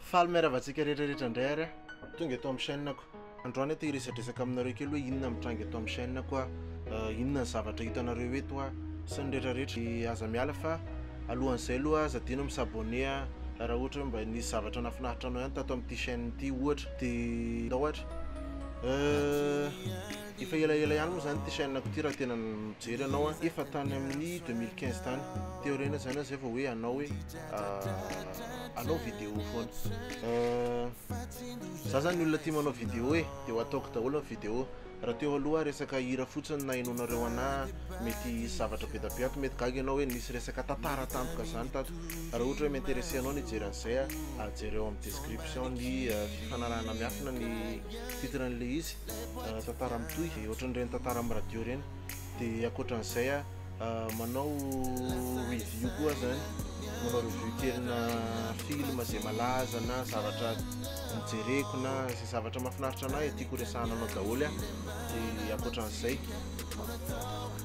Faly miarahaba antsika rehetrarehetra indray ary aho. Tonga eto amin'ny chaîne-ko. Androany aho te hiresadresaka aminareo kely hoe inona mitranga eto amin'ny chaîne-ko a, inona ny zavatra hitanareo eto a, sy ny rehetrarehetra. Dia aza miala fa alohan'izay aloha aza adino mi s'abonner a, raha ohatra hoe mba nisy zavatra nahafinaritra anao ihany tato amin'ity chaîne ity ohatra, dia ndao ary. Efa elaela ihany moa zany ity chaîne ko ity raha tena mijery anao a, efa tany amin'ny 2015 tany, teo aoriana zany zay vao hoe hanao hoe hanao ah, vidéo foana. Euh, za zany olona tia manao vidéo e, de ho ataoko daholo ny vidéo. Raha teo aloha resaka hira fotsiny na henoinareo anah mety hisy zavatra be da be ato, mety gaga ianao hoe nisy resaka tantara tampoka zany tato. Raha ohatra hoe mi-interesser anao ny hijery an'izay a, jereo amin'ny description ny euh, fifanarahana miafina ny. titre an'ilay izy tantara mitohy dia ohatran'ireny tantara amin'ny radio ireny dia ankoatran'izay a manao review koa zany manao review kelina film izay malaza na zavatra mijereko na izay zavatra mahafinaritra anay tiako resahana anao daholo a dia ankoatran'izay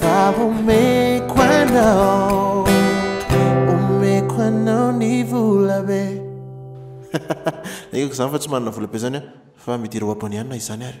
Fa omeko anao Omeko anao ny vola be Ekeko zany fa tsy manana vola be zany an Fa midira ho abonné anona izany ary.